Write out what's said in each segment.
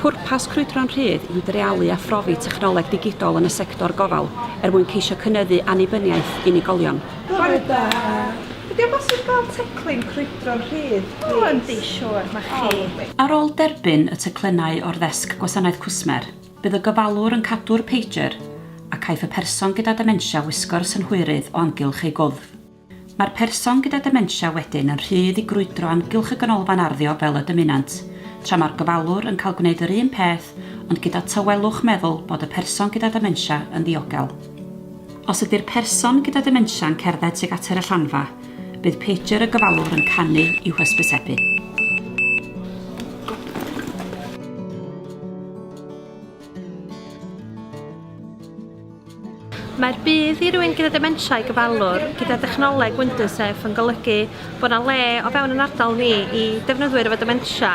Pwrpas Crwydro'n Rhydd yw dreialu a phrofi technoleg digidol yn y sector gofal er mwyn ceisio cynyddu annibyniaeth unigolion. Bore da! Ydy o'n bosib gael teclyn crwydro'n rhydd, plis? O, yndi, siŵr, mae chi. Ar ôl derbyn y teclynnau o'r ddesg gwasanaeth cwsmer, bydd y gofalwr yn cadw'r pager a caiff y person gyda dementia wisgo'r synhwyrydd o amgylch ei gwddf. Mae'r person gyda dementia wedyn yn rhydd i grwydro amgylch y ganolfan arddio fel y dymunant, tra mae'r gofalwr yn cael gwneud yr un peth ond gyda tawelwch meddwl bod y person gyda dementia yn ddiogel. Os ydy'r person gyda dementia yn cerdded tuag at yr allanfa, bydd pager y gofalwr yn canu i'w hysbysebu. Mae'r budd i rywun gyda dementia i gyfalwr gyda dechnoleg WindoSafe yn golygu bod yna le o fewn yn ardal ni i defnyddwyr efo dementia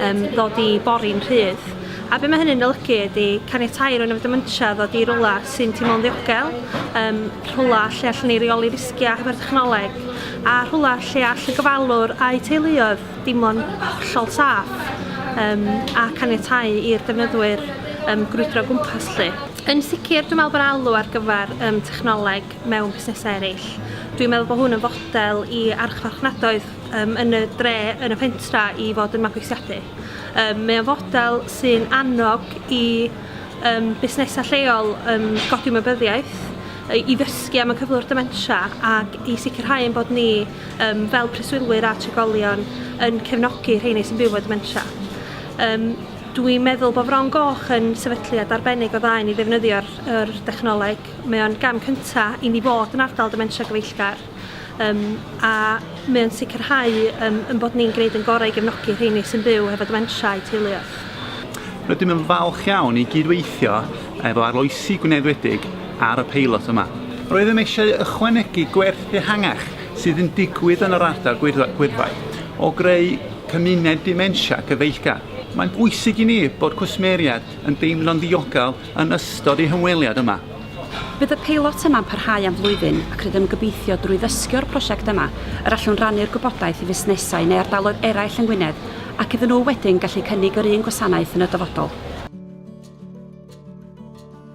um, ddod i bori'n rhydd. A be mae hynny'n olygu ydy caniatau rhywun efo dementia ddod i rwla sy'n teimlo'n ddiogel, um, rhwla lle allan ni reoli risgiau hefo'r technoleg, a rhwla lle all y gyfalwr a'i teuluoedd dimlo'n hollol saff um, a caniatau i'r defnyddwyr um, grwydro gwmpas lle. Yn sicr, dwi'n meddwl bod alw ar gyfer um, technoleg mewn busnesau eraill. Dwi'n meddwl bod hwn yn fodel i archfarchnadoedd um, yn y dre, yn y pentra i fod yn mabwysiadu. Um, mae o'n fodel sy'n annog i um, busnesau lleol um, godi mybyddiaeth, i ddysgu am y cyflwr dementia ac i sicrhau yn bod ni um, fel preswylwyr a trigolion yn cefnogi rheini sy'n byw efo dementia. Um, Dwi'n meddwl bod Fron Goch yn sefydliad arbennig o dda i ni ddefnyddio'r yr dechnoleg. Mae o'n gam cynta i ni fod yn ardal dementia gyfeillgar um, a mae o'n sicrhau um, yn bod ni'n gwneud yn gorau i gefnogi rheini sy'n byw hefo dementia i teuluoedd. Rydym yn falch iawn i gydweithio efo arloesi Gwynedd Wledig ar y peilot yma. Roeddem eisiau ychwanegu gwerth ehangach sydd yn digwydd yn yr ardal gwyddfai o greu cymuned dementia cyfeillgar. Mae'n bwysig i ni bod cwsmeriaid yn deimlo'n ddiogel yn ystod eu hymweliad yma. Bydd y peilot yma'n parhau am flwyddyn ac rydym yn gobeithio drwy ddysgio'r prosiect yma yr allwn rannu'r gwybodaeth i fusnesau neu ardaloedd eraill yng Ngwynedd ac iddyn nhw wedyn gallu cynnig yr un gwasanaeth yn y dyfodol.